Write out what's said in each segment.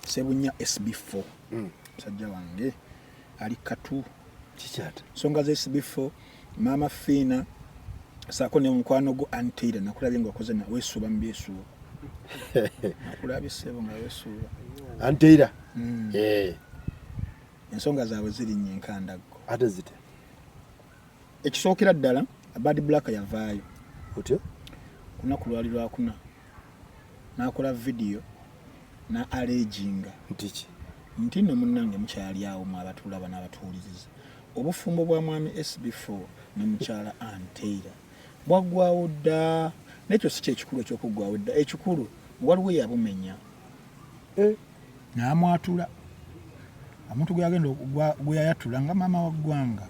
Sebunya SB4 mm. musajja wange ali katu kikyata songa za SB4 mama Fina sako ne mukwano go antira nakulabye nga okoze na wesuba mbyesu nakulabye sebo nga wesuba antira mm. eh ensonga zaabwe ziri nnyo enkandaggo ate zite ekisookera ddala abadi black yavaayo otyo kunaku lwali lwakuna nakola video na aleginga ntiki nti no munange mukyali awo mu abatulaba n'abatuwuliriza obufumbo bwa mwami SB4 ne mukyala Anteira bwaggwawo dda nekyo si kyekikulu ekyokuggwawo dda ekikulu waliwo yabumenya eh. n'amwatula omuntu gweyagenda gweyayatula nga maama wa ggwanga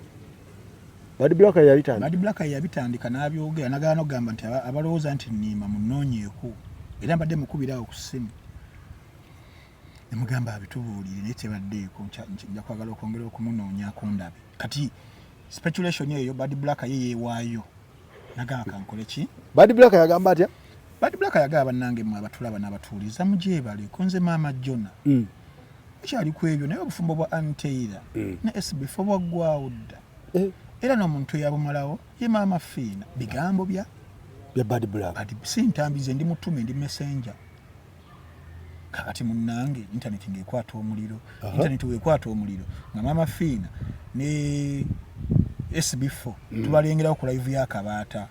bad black yabitandika n'abyogera nagala nokugamba nti abalowooza nti niima munoonyeeko era mbadde mukubiraawo ku ssimu nemugamba abitubuulire naye tebaddeeko nja kwagala okwongera okumunoonyako ndabe kati speculation eyo bad black ye yeewaayo nagamba kankole ki bad black yagamba atya bad black yagamba bannange mwe abatulaba n'abatuuliza mugyebale kunze maama jona mm. mukyali ku ebyo naye obufumbo bwa anteira mm. ne sbf obwaggwawo dda eh. era n'omuntu eyabumalawo ye maama fiina bigambo bya bya bad black si ntambi ze ndi mutume ndi messenger kakati munange internet ngaekwata omuliro uh -huh. internet wekwata omuliro nga mama fiina ne sb4 mm. tubalengerawo ku live yakabaata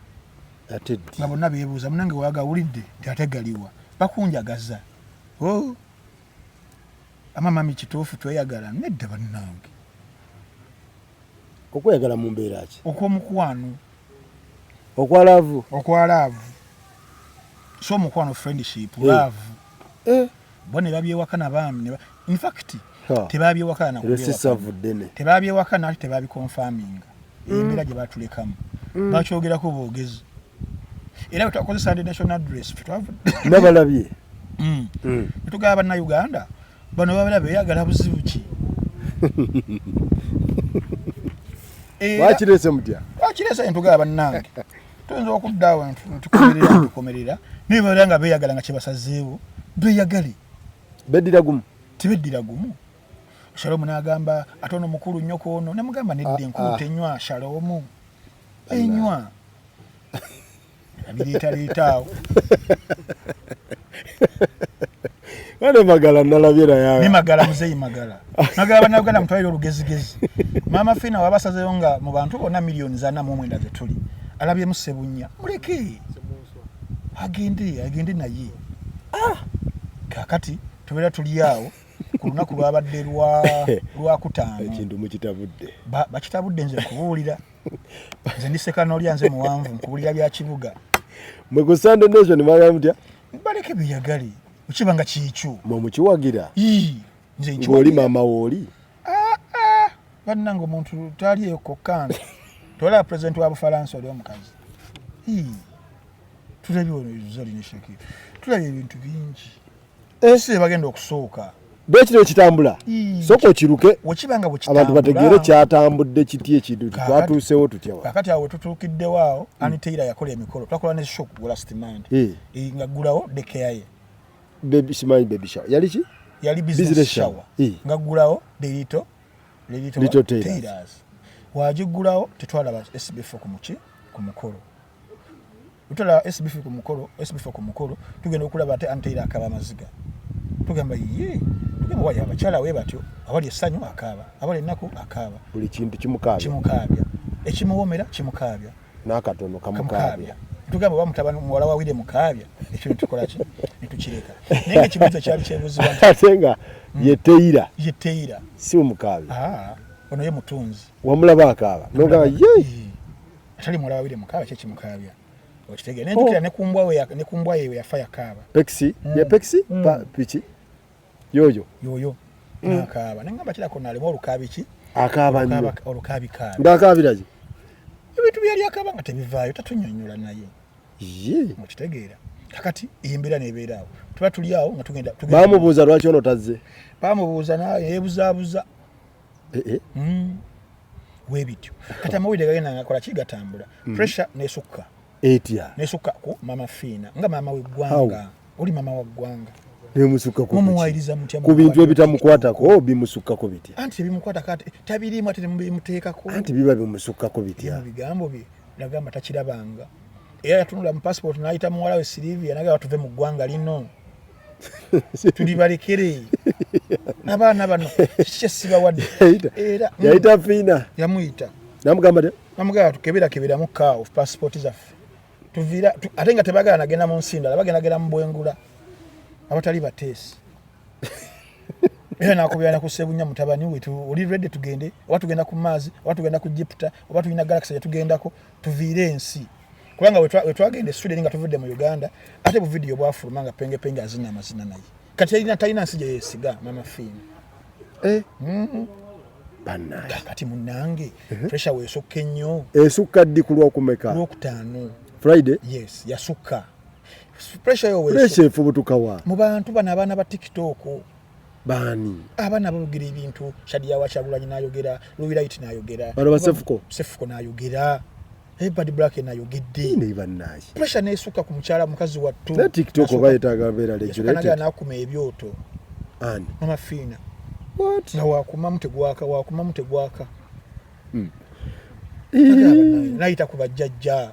nga bonna bebuuza munange wagawulidde nti ate galiwa bakunjagaza oh. amamami kituufu tweyagala nedda bannange okweyagala mu mbeera ki okw'omukwano okwa laavu okwa laavu so omukwano friendship eh. laavu eh. bo ne babyewaka na baami infact tebabyewaka natebabyewaka nati tebabikonfaminga mm. embeera gye batulekamu mm. bakyogerako boogezi era bwetwakozesa ndi national dress nabalabye mm. netugaba bannauganda bano babera beyagala buzibu ki wakirese mutya wakirese entugala bannange tuyinza okudda awo tukomerera tukomerera naye babera nga beyagala nga kyebasazeewo beyagale beddira gumu tibeddira gumu shalomu nagamba ate ono mukulu nnyo ku ono nemugamba nedda ah, enkulu ah. tenywa shalomu enywa abireetareetaawo wane magala nalabye nayawe magala muzeyi magala magala banauganda mutwalire olugezigezi maama fina wabasazeyo nga mu bantu bonna miliyoni zana mu omwenda zetuli alabyemu sebunya muleke agende agende naye ah! kakati tubeera tuli awo ku lunaku lwabadde lwakutaano ekintu mukitabudde bakitabudde nze kubuulira nze ndi sekanolya nze muwanvu nkuwulira bya kibuga mwe ku sunday nation mwagala mutya baleke beyagale okiba nga kyekyo mwe mukiwagira ng'oli maama wooli ah, ah. bannanga omuntu taali eyo kokkange tolaba pulezidenti wa bufalansa oli omukazi tulabye ono zolina shakir tulabye ebintu bingi ensi ebagenda okusuuka bwekino ekitambula soka okiruke abantu bategeere kyatambudde kiti ekintu twatuusewo tutyakakati awo wetutuukiddewo awo hmm. aniteira yakola emikolo twakola ne shop last mind nga ggulawo dekeyaye simanyi baby shower yali ki yali business shower nga ggulawo derito lito tairas wagiggulawo tetwalaba sbf ku muki ku mukolo Utala SBF ku mukolo, SBF ku mukolo, tugenda okulaba ate anteira akaba amaziga. Tugamba yee, tugamba wali abakyala we batyo, abali essanyu akaaba, abali ennaku akaaba. Buli kintu kimukaabya. Kimukaabya. Ekimuwomera kimukaabya. N'akatono kamukaabya. Tugamba oba mutabani muwala wa Wire mukaabya, ekyo ne tukola ki? Ne tukireka. Naye ng'ekibuuzo kyali kyebuuzibwa nti. Ate nga hmm. ye teira. Ye teira. Si omukaabya. Ah, ono ye mutunzi. Wamulaba akaaba. N'ogamba yee. atali muwala wabiri mukaaba kye kimukaabya okitegere naye jukira oh. ne kumbwa we ne kumbwa ye yafa yakaaba pexi mm. ya pexi mm. pa pichi yoyo yoyo mm. nakaaba ne ngamba kira kona alimu olukabi ki akaaba nyo olukabi ka ndakabiraje ebintu byali akaba nga tebivaayo tatunyonyola naye ye mukitegera kakati embera nebeera awo tuba tuli awo nga tugenda bamubuuza lwaki ono tazze bamubuuza naye yebuzabuza eh, eh. Mm. webityo kati amawulire gagenda ngakola ki gatambula mm. pressure nesukka etya nesukka ku mama fiina nga mama weggwanga oli mama wa ggwanga ku bintu ebitamukwatako oh, bimusukkako bitya anti tebimukwatako tabirimu ate bimuteekako anti biba bimusukkako bitya bigambo bye nagamba takirabanga era yatunula mu passport nayita muwala we silivia nagamba tuve mu ggwanga lino tulibalekere abaana bano kyesibawadde yayita fiina yamuyita namugamba de namugamba tukeberakeberamu kaawo pasipooti zaffe tuvira ate nga tebagala nagenda mu nsi ndala bagendagenda mu bwengula abatali bateesi era nakubira nakusebunya mutabani wetu oli redi tugende oba tugenda ku maazi oba tugenda ku jiputa oba tulina galakisa gyetugendako tuviire ensi kubanga wetwagenda esweden nga tuvudde mu uganda ate buvidiyo bwafuluma nga pengepenge azina amazina naye kati erina talina nsi gyeyesiga mama fiina eh? mm-hmm. kati munange uh-huh. pressure wesukka ennyo esukka ddi ku lwokumeka lwokutaano friday yes yasukka pressure yo efubutukawa mu bantu bano abaana ba tiktok baani abaana boogera ebintu shadia wa kyagulanyi nayogera luwilayiti nayogera bano basefuko sefuko nayogera ebad black nayogedde naye bannaaye pressure neesukka ku mukyala mukazi wattu na tiktok oba yetaaga mbeera regulated nakuma ebyoto ani mama fiina what nga wakumamu tegwaka wakumamu tegwaka hmm. nayita ku bajjajja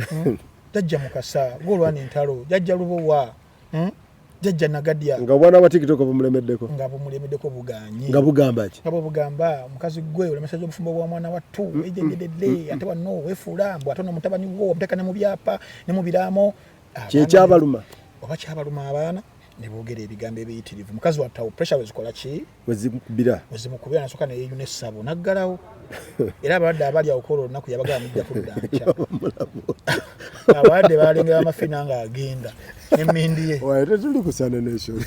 hmm? jajja mukasa golwana entalo jajja lubowa hmm? jajja nagadya nga obwana bwa tiktok bumulemeddeko nga bumulemeddeko buganyi nga bugamba ki nga bugamba mukazi gwe olemesa jo mufumbo wa mwana watu mm, ejengededde mm, mm, ate wano wefuula mbu ate onomutabani wo omuteka ne mu byapa ne mu biraamo kyekyabaluma oba kyabaluma abaana ne boogera ebigambo ebiyitirivu mukazi wattawo pressure wezikola ki wezimukubira wezimukubira nasoka ne yeyune sabo naggalawo era abalwadde abali awukola olunaku yabagala mujja kudda nkya abalwadde balengera amafina nga agenda emindi ye tetuli ku sanenation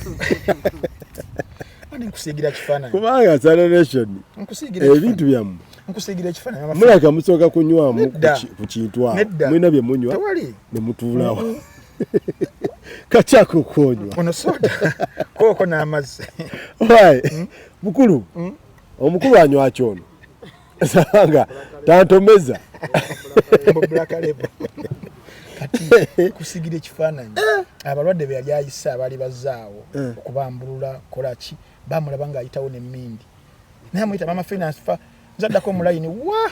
nkusiigira kifaananyi kubanga sanenation ebintu byammwe nkusiigira ekifaananyi mulaka musooka kunywamu ku kintu awo mulina bye munywa ne mutuulawo kakyaka okuonywa ono soda kooko n'amazzi hmm? mukulu hmm? omukulu anywaki ono sabanga tantomeza kusigira ekifaananyi eh. abalwadde be yali ayise abaali bazaawo eh. okubambulula kolaki bamulaba ng'ayitawo nemmindi naye amuyita mama finance fa nzaddako mulayini wa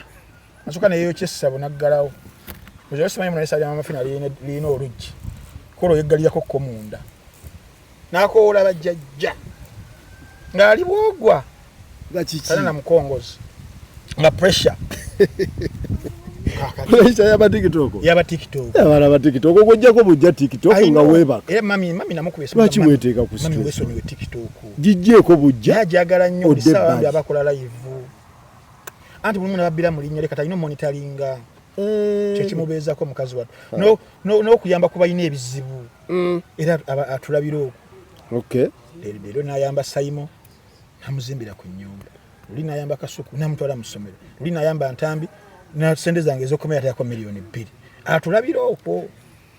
nasuka neyeyokya essabo naggalawo oyo simanyi munalesa lya mama fina lirina oluggi kola oyeggalirako ko munda nakowoola bajjajja ng'ali bwogwa kale na mukongozi nga pressure pressure yaba tiktok yaba tiktok yaba yaba tiktok okujjako bujja tiktok nga weba eh mami mami namukuba esimu lwaki weteeka ku stress mami weso niwe tiktok jijjeko bujja yajagala nnyo bisawa abakola live anti mulimu nababbira mu linnya lye kati alina omonitalinga eh. kyekimubeezako mukazi wattu n'okuyamba ku balina ebizibu mm. era atulabira okwo leero nayamba sayimo namuzimbira ku nyumba luli nayamba kasuku namutwala mu ssomero luli nayamba ntambi na sente zange ezokomera tayako miliyoni bbiri atulabira okwo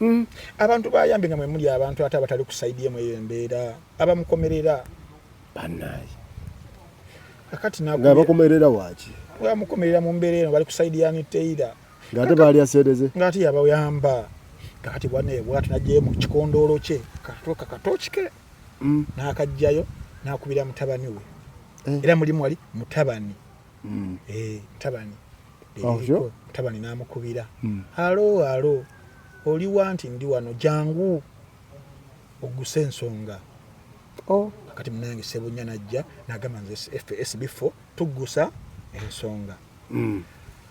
Mm. abantu bayambe nga mwemuli abantu ate abatali kusaidia mweyo embeera abamukomerera banaye akati nabakomerera waki bamukomerera mu mbeera eno bali kusaidia niteira ngate baali asereze ngate yabayamba kakati bwana bwatu najjayo mu kikondoolo kye katoka katokike mm. nakajjayo nakubira mutabani we eh. era mulimu wali mutabani mm. eh, tabani ovyo tabani namukubira mm. alo alo oli wanti ndi wano jangu oguse ensonga oh. kati munange sebunya najja nagamba nze fsb fo tugusa ensonga mm.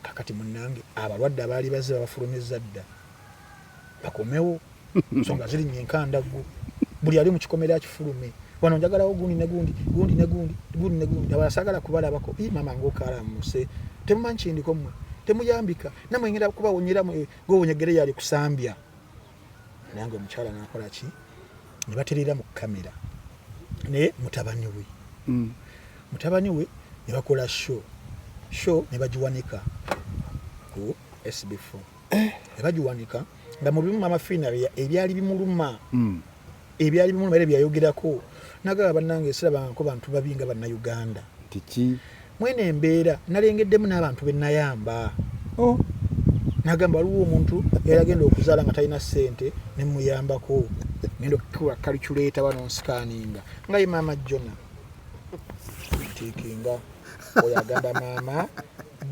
kakati munange abalwadde abaali bazze babafulumiza dda bakomewo nsonga ziri nyenkandaggu buli ali mukikomera kifulume wano njagalawo gundi negundi gundi negundi gundi negundi abala sagala kubalabako i mama ngokala muse temumanyi kindiko mwe temuyambika namwe ngenda kubawonyera mwe gowonyegere yali kusambya nange omukyala nakola ki ne baterera mu kamera ne mutabani we mm. mutabani we ne bakola show show ne bagiwanika ku sb4 eh. bagiwanika nga mubimu mama fina ebyali bimuluma hmm. ebyali bimuluma era byayogerako nagala banange esirabangako bantu babi nga bannauganda tiki mwene embeera nalengeddemu n'abantu benayamba oh. nagamba waliwo omuntu yaragenda okuzaala nga talina ssente nemuyambako genda okukula kaliculeeta wano nsikaninga nga ye maama jona tikinga oyo agamba maama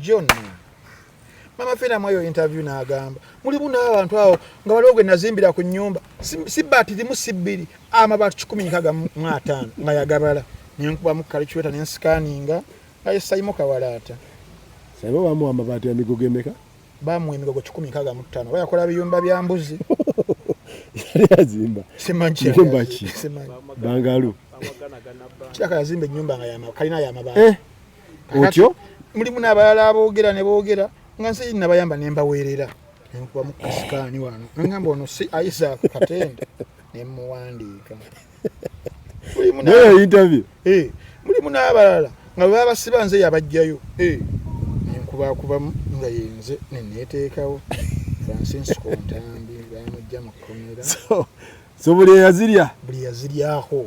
jona mama fina mwayo interview nagamba mulimu n'abantu awo nga waliwo gwe nazimbira ku nyumba si baati limu si bbiri amabaati kikumi nkaga mu ataano nga yagabala nenkubamu kalicuweta nensikaninga aye sayimu kawalaata saiba bamuwa amabaati amigo gemeka bamuwa emigogo kikumi nkaga mu ttaano oba yakola biyumba bya mbuzi yali azimba simanyimbaki bangalu kiraka yazimba enyumba nga kalina yamabaati eh? otyo mulimu nabalala abogera ne bogera nga nsi nabayamba ne mbaweerera nenkuba mu kasikaani wano nengamba ono si isaac katende ne muwandiika interview eh, mulimu nabalala nga bwe babasiba nze yabajjayo eh, nenkubakubamu nga yenze neneteekawo francisco ntambi bamujja mu kkomera so buli eyazirya buli yaziryako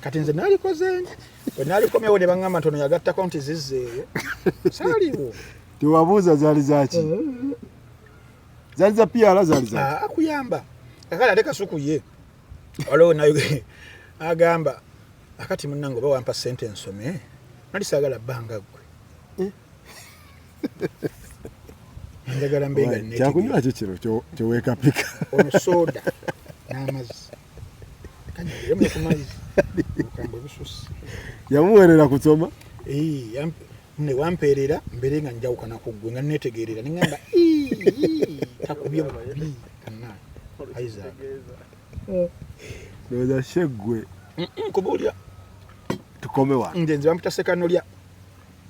kati nze nalikoze nti bwe nalikomyewo ne baŋŋamba ntono yagattako nti zizzeeyo saaliwo tewabuuza zaali zaki eh. zaali za piala zaali za ah, akuyamba kakale ate kasuku ye waliwo nayo agamba akati munnange oba wampa ssente nsome nali saagala bbanga ggwe eh. njagala mbenga kyakunywa kyo kino kyewekapika omusoda n'amazzi yamuwerera kusoma newampeerera mbeere nga njawukana ku ggwe nga netegeerera neŋamba takubye bubi kana isaac ndowooza sheggwe kuba olya tukome wa nze nze bampita sekanolya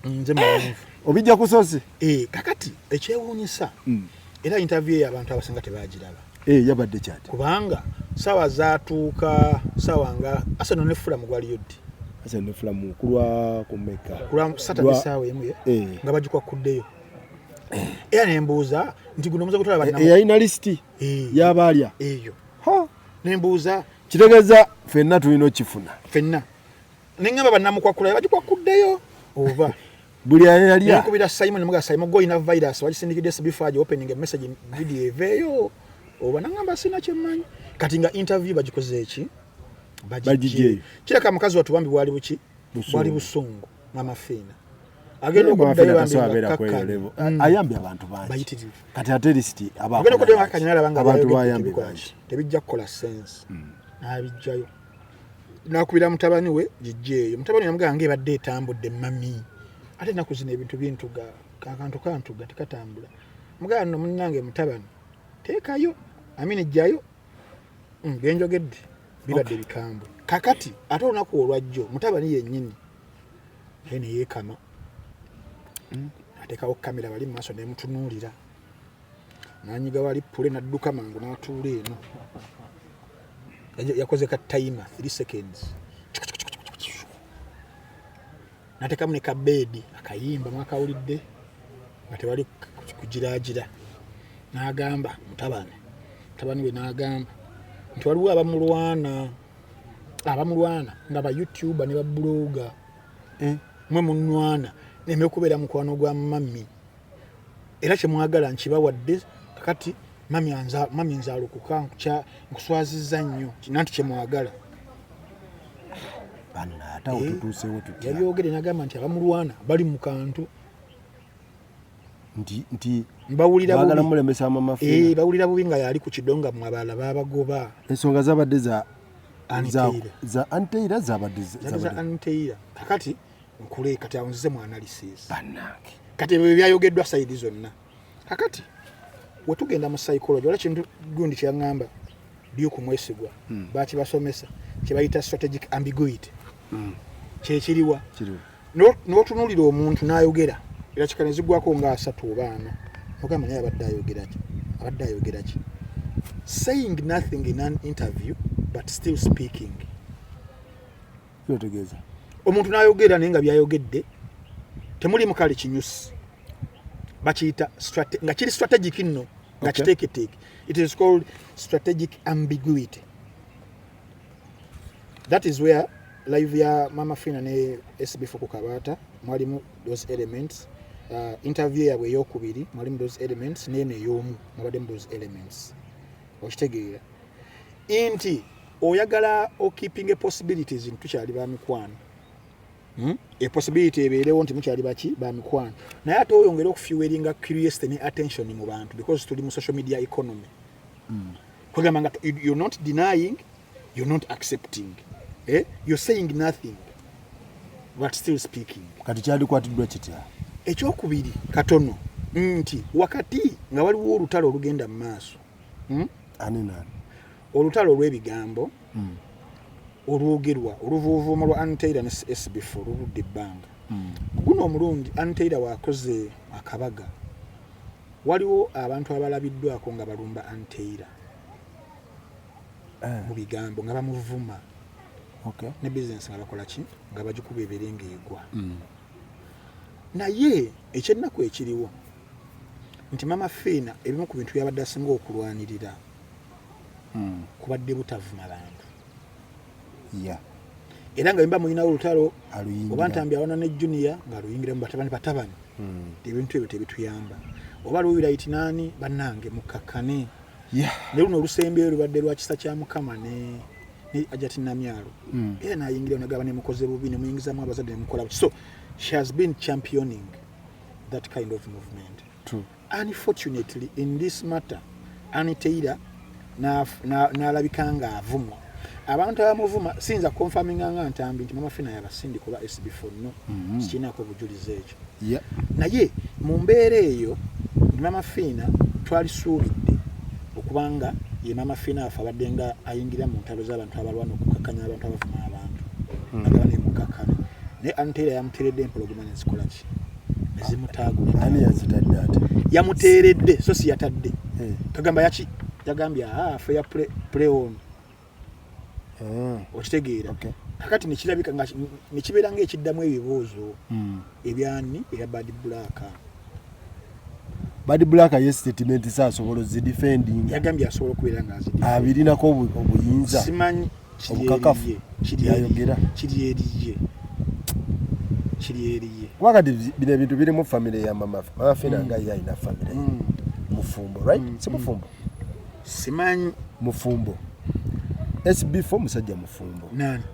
nze mawonvu obijja kusozi eh, kakati ekyewuunyisa mm. era interview eyo abantu abasinga tebagiraba eh, yabadde kyati kubanga sawa zatuuka sawa nga asano ne fulamu gwaliyo ddi asano ne fulamu kulwa kumeka kulwa satade sawa emu eh. nga bagikwa kuddeyo era nembuuza nti guno omuze gutwala banna eyalina lisiti yabaalya eyo nembuuza kitegeeza fenna tulina okifuna fenna ne ŋŋamba bannamukwakula bagikwakuddeyo oba buli ayalya nkubira simon muga simon go ina virus wagisindikidde sibifu aja opening a message video eveeyo oba naŋŋamba sina kyemmanyi kati nga interview bagikoze eki bagijeeyo kireka mukazi watu bambi bwali buki bwali busungu mama fiina agenda okuddayoayambe mm. abantu bangi kati ate lisiti agenda okuddayo akanyala banga abantu bayambe bangi tebijja kukola sense mm. nabijjayo nakubira mutabani we jijjeeyo mutabani yamugamba nga ebadde etambudde mami ate enaku zino ebintu bintuga kakantu kantuga tekatambula mugamba no munange mutabani teekayo amini jjayo mm, byenjogedde bibadde bikambwe kakati ate olunaku olwajjo mutabani yennyini naye neyeekama mm. atekawo kamera bali mumaaso nemutunuulira nanyiga wali pule nadduka mangu natuula eno yakoze ka timer 3 seconds natekamu ne kabeedi akayimba mwakawulidde nga tewali kugiraagira n'agamba mutabani mutabani we n'agamba nti waliwo abamulwana abamulwana nga ba youtuba ne babuloga eh, mwe munwana neme okubeera mukwano gwa mami era kyemwagala nkibawadde kakati mami nzalukuka nkuswaziza nnyo nanti kyemwagala eh, yabyogere nagamba nti abamulwana bali mu kantu bawulira bubi nga yali ku kidonga mu abalala babagoba ensonga zabadde za anteira zabadde kakati za nkule kati awo nzize mu analysis banange kati ebyo byayogeddwa sayidi zonna kakati wetugenda mu psychology wala kintu gundi kyeyaŋŋamba duke mwesigwa hmm. bakibasomesa kyebayita strategic ambiguity hmm. kyekiriwa notunulira omuntu nayogera era kika nezigwako nga asatu oba ana ogamba naye abadde ayogeraki abadde ayogeraki saying nothing in an interview but still speaking kyotegeeza omuntu nayogera naye nga byayogedde temuli mukali kinyusi bakiyita nga kiri strategic nno nga kiteeketeeke it is called strategic ambiguity that is where live ya mama fina ne sb fuku kabata mwalimu those elements uh, interview yabwe eyokubiri mwalimu those elements neeno eyoomu mwabaddemu those elements okitegeera inti oyagala o keeping a possibilities nti tukyali ba mikwano hmm? a possibility ebeerewo nti mukyali baki ba mikwano naye ate oyongere okufiweringa curiosity ne attention mu bantu because tuli mu social media economy mm. kwegamba nga you're not denying you're not accepting eh? you're saying nothing but still speaking kati kyalikwatiddwa kitya ekyokubiri katono nti wakati nga waliwo olutalo olugenda mu maaso hmm? ani nani olutalo olw'ebigambo mm. olwogerwa oluvuuvuumo lwa anteira ne sbf oluludde ebbanga mm. guno omulundi anteira wakoze akabaga waliwo abantu abalabiddwako nga balumba anteira eh. mu bigambo nga bamuvuma ne bizinesi nga bakola ki nga bagikuba ebere ngaegwa mm. naye ekyennaku ekiriwo nti mama fiina ebimu ku bintu byabadde asinga okulwanirira mm. kubadde butavuma bantu yeah. era nga bimba mulinawo olutalo oba ntambi awana ne junior nga luyingira mu batabani batabani mm. ebintu ebyo tebituyamba oba luwira iti nani banange mukakkane yeah. ne luno olusembyeyo lubadde lwa kisa kya mukama ne ajati namyalo mm. era nayingira nagaba nemukoze bubi nemuyingizamu abazadde nemukola so she has been championing that kind of movement Unfortunately in this matter Aniteira n'alabika na, na nga avumwa abantu abamuvuma siyinza konfaminga nga ntambi nti mama fina yabasindi kuba sb fonno mm -hmm. sikirinako obujulizi ekyo yeah. naye mu mbeera eyo mama fina twalisuubidde okubanga ye mama fina afe abadde nga ayingira mu ntalo z'abantu abalwana okukakanya abantu abavuma abantu mm -hmm. agabana emukakana naye antera yamuteredde empologoma nenzikolaki yamuteeredde so si yatadde eh. kagamba yaki yagambye ah, fe ya preon eh. okitegeera kakati nekirabika nekibeera nga ekiddamu ebibuuzo hmm. ebyani eya bad black bad black ye statement saasobola ozidefending yagambye asobola okubeera nga azirinako obuyinza obukakafu yayogera kiri eriye kiri eriye wakati bino ebintu biri mu famire ya mama mama fina mm. nga ye alina famire mm. mufumbo right mm. si mufumbo simanyi mufumbo sb fo musajja mufumbo nani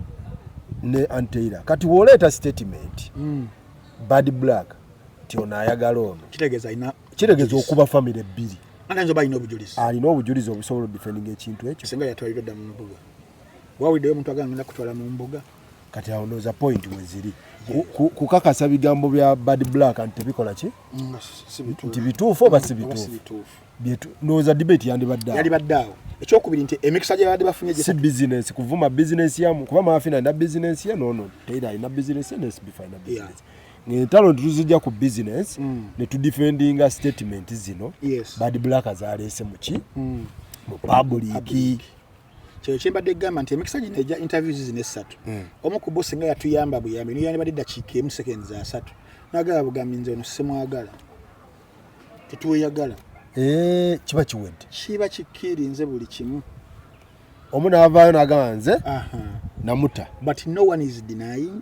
ne anteira kati woleeta statement bad black nti ono ayagala ono kitegeeza alina kiregeza okuba famire ebbiri alina obujulizi obusobola odifendinga ekintu ekyo singa yatwalira dda mu mbuga wawuliddeyo omuntu agangenda kutwala mu mbuga kati awo noza point weziri kukakasa bigambo bya bad black nti tebikola ki mm, nti bituufu oba si bituufu noza debate yandibadde awo ekyokubiri nti emikisa gye babadde bafunye si bizinesi kuvuma bizinesi yamu kuba maafina alina bizinesi ye nono teira alina bizinesi ye nesbifa alina bizinesi ngentalo netuzijja ku business mm. netudefendinga statement zino yes. bad black zaleese muki mm. mu public kino kyembadde egamba nti emikisa gino egya interviews zino essatu mm. omu ku bosi nga yatuyamba buyambi niyandibadde eddakiika emu sekendi za satu nagala bugambi nze ono simwagala tetweyagala eh, kiba kiwedde kiba kikirinze buli kimu omu navaayo nagamba nze namuta but no one is denying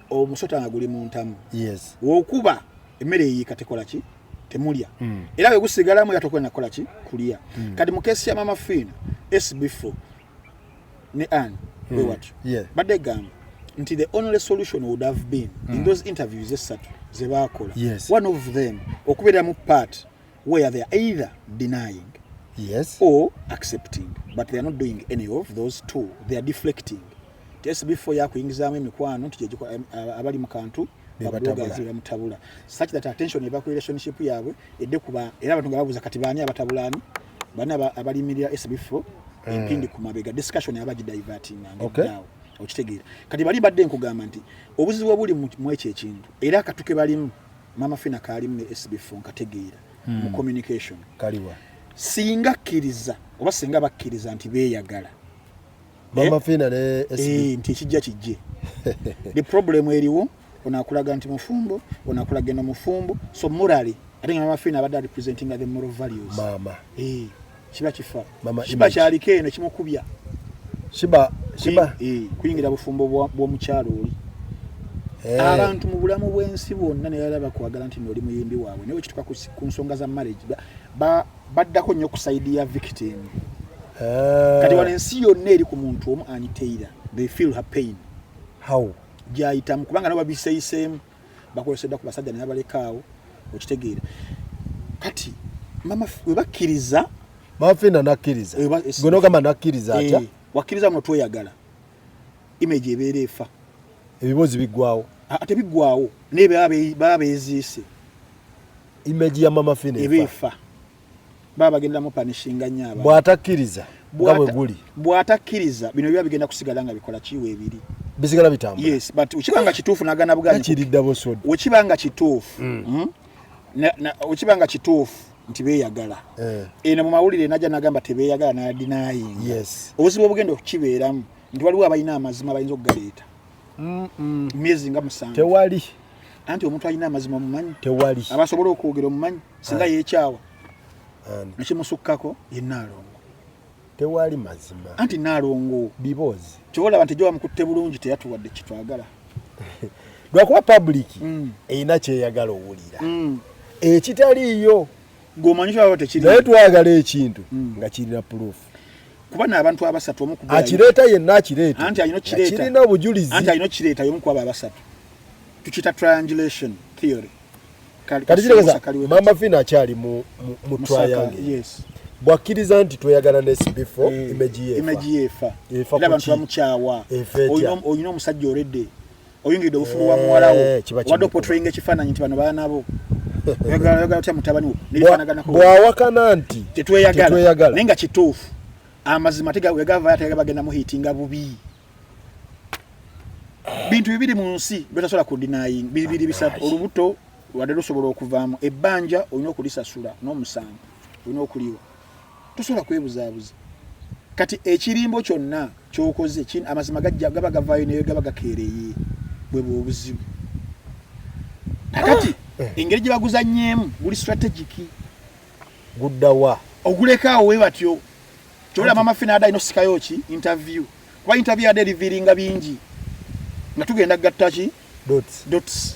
omusota nga guli mu ntamu yes. wokuba emmere eyiika tekola ki temulya mm. era bwe gusigalamu era tokwenda kukola ki kulya mm. kati mu kesi ya mama fiina sb4 ne an mm. we watyo yeah. badde gamba nti the only solution would have been mm. in hmm. those interviews essatu ze baakola yes. one of them okubeeramu part where they are either denying yes or accepting but they are not doing any of those two they are deflecting tesi before yakuyingizamu emikwano nti gyegiko abali mu kantu bamutabula such that attention eva ku relationship yaabwe edde kuba era abantu nga babuuza kati baani abatabulaani baani abalimirira esi before Eh. empindi ku mabega discussion yaba gidivertinga ngedaawo okitegeera kati bali badde nkugamba nti obuzibu obuli mu ekyo ekintu era akatuke balimu mama fina kalimu ne SB phone kategeera hmm. mu communication kaliwa singa kiriza oba singa bakiriza nti beyagala mama eh? fina ne SB eh nti kijja kijje the problem eriwo onakulaga nti mufumbo onakulaga no mufumbo so morally i think mama fina abadde representing the moral values mama eh shiba kifa mama shiba kyaliko eno kimukubya shiba shiba eh kuyingira bufumbo bw'omukyalo oli eh. abantu mu bulamu bw'ensi bwonna naye alaba kwagala nti noli muyimbi waabwe naye wekituka ku nsonga za marriage baddako nnyo ku saidi ya victim eh. kati wano ensi yonna eri ku muntu omu aniteira they feel her pain how gyayitamu kubanga nabo babiseyiseemu bakolesedwa ku basajja nebabalekaawo okitegeera kati mama webakkiriza mafina nakkiriza gwe nogamba nakkiriza eh, atya wakkiriza nga tweyagala image ebeera efa ebiboozi biggwawo tebiggwawo naye baba beziise image ya mama fina ebeefa baba bagenda mu panishinga nnyo abantu bw'atakkiriza nga bwe guli bw'atakkiriza bino biba bigenda kusigala nga bikola kiwa ebiri bisigala bitambula yes but ukiba nga kituufu nagana bugani kiridda bosod ukiba nga kituufu mm. mm? ukiba nga kituufu nti beyagala eh. eno mu mawulire najja nagamba tebeyagala nayadinayinga yes. obuzibu obugenda okukibeeramu nti waliwo abalina amazima bayinza okugaleeta myezi nga musanvu tewali anti omuntu alina amazima omumanyi tewali abasobola okwogera omumanyi singa yekyawa nekimusukkako ye naalongo tewali mazima anti naalongo biboozi kyobolaba nti gyewamukutte bulungi teyatuwadde kitwagala lwakuba pabuliki mm. erina kyeyagala owulira mm. ekitaliiyo ng'omanyi naye twagala ekintu mm. nga kirina purufu kuba n'abantu abasatu omu ku akireeta yenna akireeta anti alina okireeta kirina obujulizi anti alina okireeta y'omu ku abo abasatu tukiyita triangulation theory kati kirowooza maama fina akyali mu mu triangle yes bwakkiriza nti tweyagala nesbifo eh, imeji yefa efa abantu bamukyawa olina omusajja olede oyingiride obufulu wa muwala wo eh, wadde opotrayinga ekifaananyi nti bano baana bo oyagala otya mutabani wo nebifaanaganako bwawakana nti tetweyagala naye nga kituufu amazima tegavayo ategaba genda muhitinga bubi bintu bibiri mu nsi byotasobola kudinaying bibiri bisatu olubuto wadde lusobola okuvaamu ebbanja olina okulisasula n'omusango olina okuliwa tosobola kwebuzaabuza kati ekirimbo kyonna kyokoze amazima gajja gaba gavaayo naye gaba gakeereye bwebwa obuzibu kakati ah! eh. engeri gye baguzanyeemu guli strategic guddawa ogulekaawo we batyo kyolaba mama fina ada ino sikayo ki interview kuba interview ade revealinga bingi nga tugenda gatta ki dots dots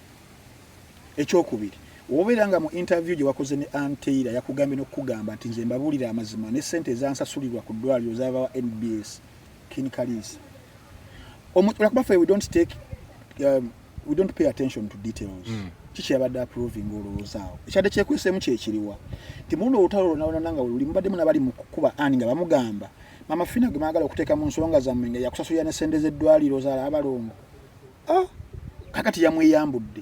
ekyokubiri wobeera nga mu interview gye wakoze ne anteira yakugambye n'okukugamba nti nze mbabuulira amazima ne ssente ezansasulirwa ku ddwaliro zabawa nbs kin kaliisa olakuba fe we don't take um, we don't pay attention to details mm. kiki yabadde approving olowoozaawo ekyadde kyekweseemu kyekiriwa nti muluno olutalo lonalonana nga luli mubaddemu nabali mu kukuba ani nga bamugamba mama fina gwe mwagala okuteeka mu nsonga zammwe nga yakusasulira ne ssente z'eddwaliro zaala abalongo ah. kakati yamweyambudde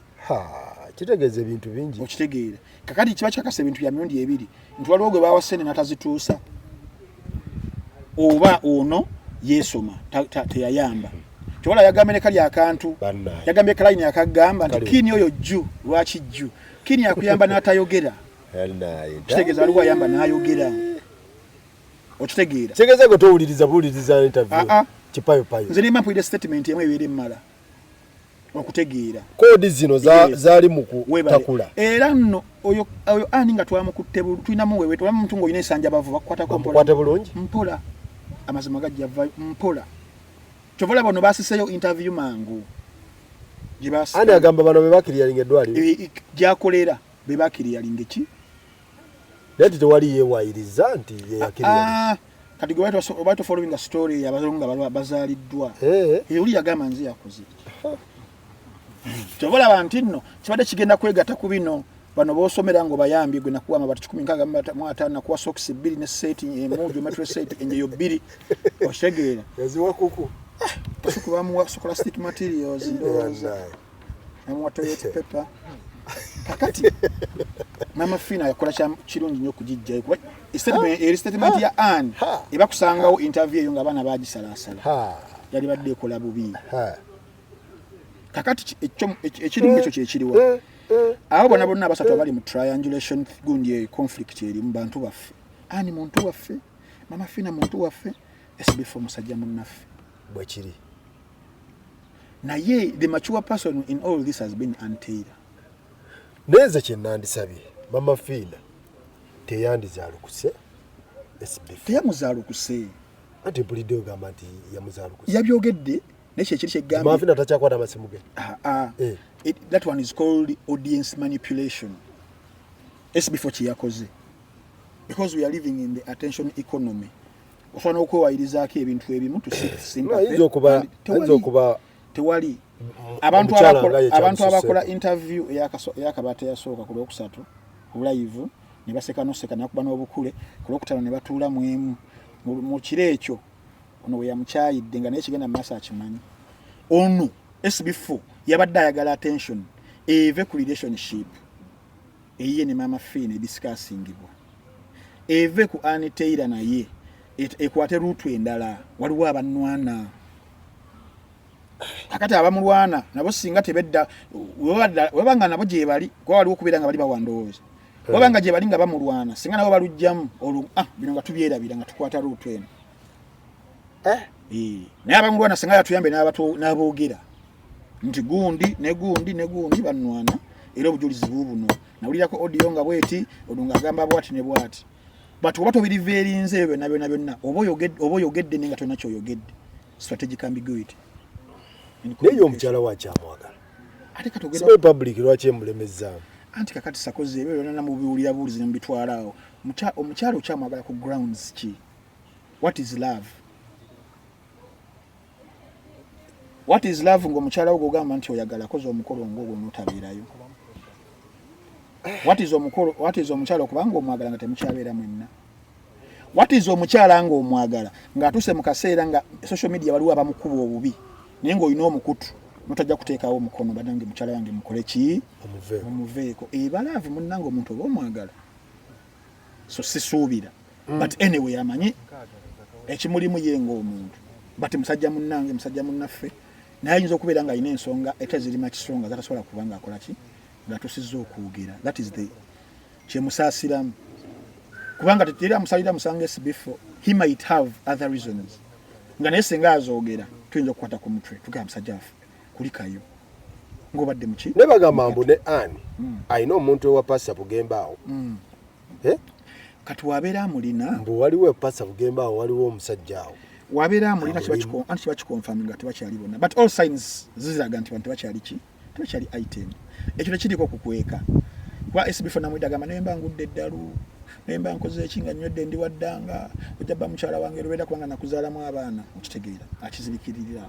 kitegeeza ebintu bingi okitegeera kakati kiba kikakasa ebintu bya mirundi ebiri nti waliwo gwe bawa sente natazituusa oba ono yeesoma teyayamba tewala yagambye ne kali akantu yagambye kalayini akagamba nti kiini oyo jju lwaki jju kiini akuyamba n'atayogera kitegeeza waliwo ayamba n'ayogera okitegeera kitegeeza gwe towuliriza buwuliriza interview ah, ah. kipayo payo nze nemba mpulira statement emu ebeera emmala okutegeera koodi zino zaali mu kutakula era nno oyo ani nga twamukutte tulinamu wewe tulamu omuntu ngaolina esanja bavu bakukwatako mpola bulungi mpola amazima gajja vayo mpola kyova olaba ono basiseyo interview mangu ani agamba bano bebakiriyalinga eddwaliro gyakolera bebakiriyalinga eki naye nti tewali yeewayiriza nti yeyakirira ah, ah. kati gwe baali tofollowinga story yabazungu nga bazaaliddwa eh. eyo oli yagamba nze yakuze kyova olaba nti nno kibadde kigenda kwegatta ku bino bano bosomera nga obayambye gwe nakuwa amabati kikumi nkaaga mu ataano nakuwa sokisi bbiri ne seeti emu geometry set enjeyo bbiri otegeera yaziwa kuku ah, bamuwa scholastic materials ndowooza namuwa toyota pepa kakati mama fina yakola kirungi nyo okugijjayo kuba eri statement ya an eba kusangawo interview eyo nga abaana bagisalaasala yali badde ekola bubi kakati ekirimu ekyo kyekiriwa eh, eh. abo bona bonna abasatu eh. abali mu triangulation gundi eyo conflict eri mu bantu baffe ani muntu waffe mama fina muntu waffe esibiffe omusajja munnaffe bwekiri naye the mature person in all this has been anteira neze kyenandisabye mama fiina teyandizalukuse teyamuzalukuse anti mpulidde ogamba nti yamuzalukuse yabyogedde naye kyekiri kyegamamafina takyakwata amasimu ge ah, ah. Eh. that one is called audience manipulation esbefore kyeyakoze because we are living in the attention economy ofana okwewayirizaako ebintu ebimu tusinayinza okuba tewali abantu abakola interview eyakabaata yasooka ku lwokusatu obulayivu ne baseka noseka nakuba n'obukule ku lwokutano ne batuula mu emu mu kiro ekyo ono we yamukyayidde nga naye kigenda mu maaso akimanyi ono sbf yabadde ayagala attention eve ku relationship eyiye ne maama fee ne discussingibwa eve ku ani teira naye ekwate rutu endala waliwo abanwana akati abamulwana nabo singa tebedda webanga nabo gyebali kuba waliwo okubeera nga bali bawandowooza eh. webanga gyebali nga bamulwana singa nabo balujjamu olwo ah, bino nga tubyerabira nga tukwata rutu eno eh? naye abamulwana singa yatuyambe n'aboogera nti gundi ne gundi ne gundi bannwana era obujulizi buubuno nawulirako odiyo nga bweti ono ng'agamba bwati ne bwati but oba tobiriva erinze ebyo byonna byonna byonna oba oyogedde naye nga tolina kyoyogedde strategic ambiguity naye omukyala wakyamwagala ate katogera public lwaki emulemezaamu anti kakati sakoze ebyo byonna namubiwulira buulizi nemubitwalaawo omukyala okyamwagala ku grounds ki what is love what is love ngo mukyala wo gogamba nti oyagala koza omukolo ngo ogwo notabeerayo what is omukolo what is omukyala okubanga omwagala nga temukyabeera mwenna what is omukyala nga omwagala nga atuse mu kaseera nga social media waliwo abamukuba obubi naye nga olina omukutu notajja kuteekawo omukono banange mukyala wange mukole ki omuveeko ebalaavu munnange omuntu oba omwagala so sisuubira mm. but anyway amanyi ekimulimu ye ngaomuntu but musajja munnange musajja munnaffe naye ayinza okubeera nga alina ensonga eta zirima kisonga zatasobola kuba nga akola ki ngatusizza okwogera that is the kyemusaasiramu kubanga teteri amusalira musango esibifo he might have other reasons nga naye singa azoogera tuyinza okukwata ku mutwe tugamba musajja waffe kulikayo ngobadde muki ne bagamba mbu ne ani mm. alina omuntu ewa pasa bugemba awo mm. eh? kati wabeera amulina mbu waliwo epasa bugemba awo waliwo omusajja awo wabeera amulina anti kibakikonfami nga tebakyali bonna but all signs ziziraga nti bantu tebakyali ki tebakyali item ekyo tekiriko kukweka kuba sbf namwida gamba naye mba ngudde eddalu naye mba nkoze eki nga nywedde ndi waddanga ojja ba mukyala wange lubeera kubanga nakuzaalamu abaana okitegeera akizibikiririra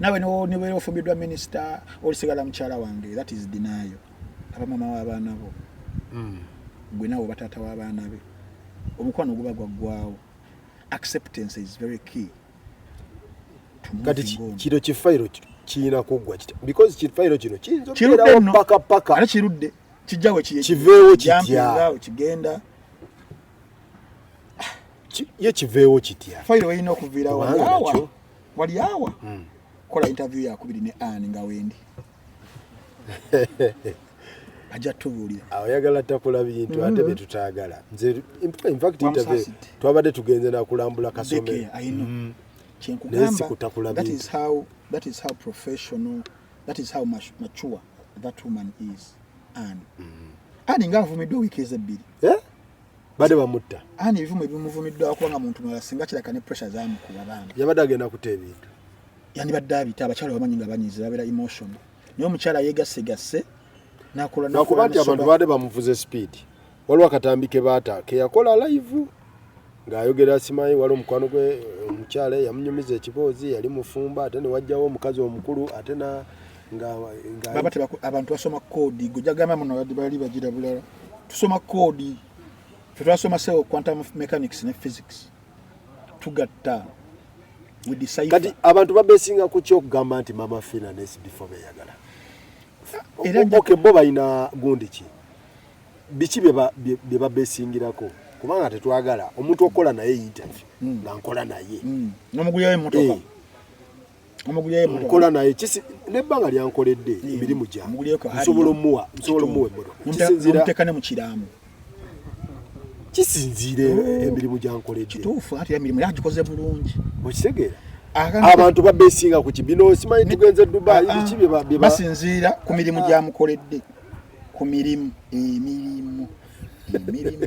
nawe nibeera ofumbiddwa minisita olisigala mukyala wange that is dinayo aba mama w'abaana bo hmm. gwe nawe oba taata w'abaana be omukwano guba gwaggwawo acceptance is very key kati kino kifayiro kirina kuggwa kitya because kifayiro kino kiyinza okubeerawo mpaka paka ate kirudde kijjawe kiveewo kitya kigenda ye kiveewo kitya fayiro erina okuviirawo wali awa mm. kola interview ya kubiri ne an nga wendi ajja tubuulira ayagala takula bintu ate mm-hmm. byetutagala nze infact interview twabadde tugenze nakulambula kasome mm-hmm. naye sikutakula bintu that is how professional that is how mature that woman is an mm-hmm. ani nga avumiddwa wiiki ezebbiri eh? bade bamutta ani ebivumo ebimuvumiddwa kuba nga muntu mulala singa kiraka ne pressure zamukuba bambi yabadde agenda kuta ebintu yandibadde abita abakyala bamanyi nga banyiizi babeera emotion naye omukyala yegassegasse nakuba nti abantu baade bamuvuze speed waliwo akatambi ke baata keyakola live ng'ayogera asimaye wali omukwano gwe omukyala yamunyumiza ekiboozi yali mufumba ate newajjawo omukazi omukulu ate na baba tebaku abantu basoma kodi gojagamba muno badi bali bajira bulala tusoma kodi twasoma sewo quantum of mechanics ne physics tugatta we decide kati abantu babesinga ku kyo kugamba nti mama fina ne sibifo beyagala era okay bo bayina gundi ki biki beba beba besingirako kubanga tetwagala omuntu okola naye interview mm. na nkola naye mm. nomuguyayo motoka hey. Eh. nkola naye nebbanga lyankoledde emirimu gyansobola omuwa nsobola omuwa emmotokakisinziiramukiramukiramu kisinziira emirimu gyankoleddekituufuatmirimuagikoze bulungi okitegeera abantu babesinga ku kibino simanyi tugenze dubai ah, biki byebasinziira ku mirimu gyamukoledde ku mirimu emirimu emirimu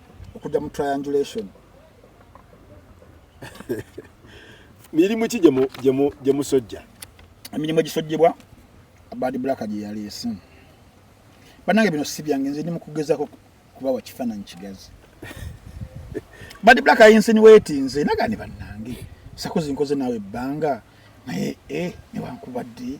okudda mu triangulation mirimu ki gye musojja emirimu egisojjebwa bad black gye yaleese banange bino si byange nze ndi mukugezako kubawa kifaananyi kigazi bad black ayinsinuweti nze naga ne bannange sakozi nkoze naawe ebbanga naye e newankubadde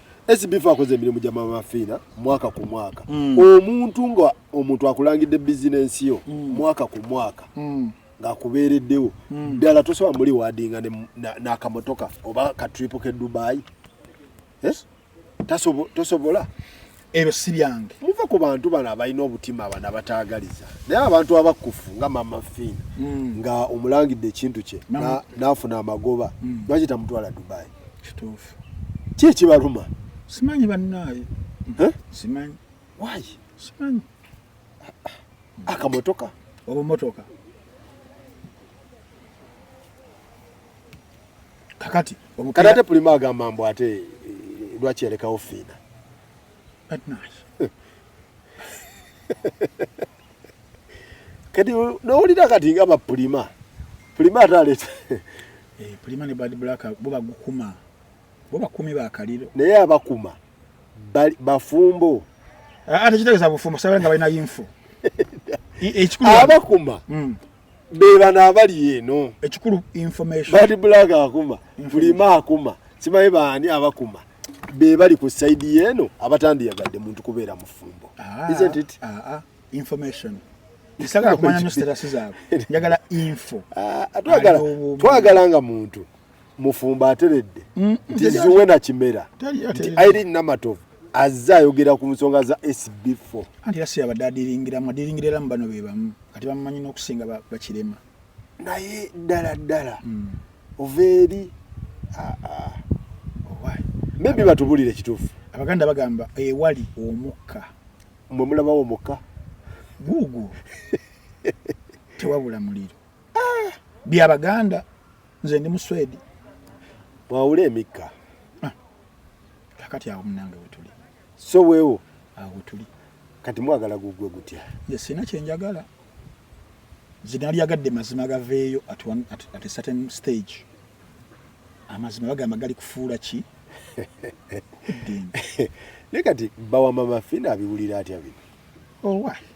SBF akoze emirimu gya Mama Fiina mwaka ku mwaka mm. omuntu nga omuntu akulangidde bizinensi yo mm. mwaka ku mwaka mm. ng'akubeereddewo mm. ddala mm. tosobola muli waadinga n'akamotoka na, na oba katripo ke Dubai eh? tasobo, tosobola ebyo si byange muva ku bantu bano abalina obutima abana abataagaliza naye abantu abakkufu nga Mama Fiina mm. nga omulangidde ekintu kye n'afuna na, amagoba mm. lwaki tamutwala Dubai kituufu ki ekibaluma simanyi bannaaye simanyi waayi simanyi akamotoka obumotoka kakati kati ate pulima agamba mbu ate eh, lwaki yalekawo fiina bannaaye kati nowulira kati nga bapulima pulima ate aleeta eh, pulima ne bad black bo bagukuma bo bakumi bakaliro naye abakuma bafumbo ah, ate kitegeza bufumbo sabala nga balina yinfo abakuma hmm. bebano abali eno ekikulu information bali bulaga akuma bulima akuma simanyi baani abakuma be bali ku saidi yeeno abatandiyagadde muntu kubeera mufumbo ah, isn't it ah, ah, information sagala kumanya nyo status zaabwe njagala info ah, twagala nga muntu mufumbo ateredde mm, nti ziwe na kimera nti irene namatovu azze ayogera ku nsonga za sb4 anti era siyabadde adiringiramu adiringira era mu bano be bamu kati bamumanyi n'okusinga bakirema naye ddala ddala mm. ova eri ah, ah. oh, maybe batubulire ekituufu abaganda bagamba ewali omukka mwe mulabawo omukka guugu tewabula muliro ah, bya baganda nze ndi muswedi wawule emikka ah, kakati awo munange wetuli so wewo awo wetuli kati mwagala gugwe gutya nze sina kyenjagala zinalyagadde mazima gaveeyo at, one, at, at a certain stage amazima bagamba gali kufuula ki naye kati bawa mama fina abiwulira atya bino owa oh,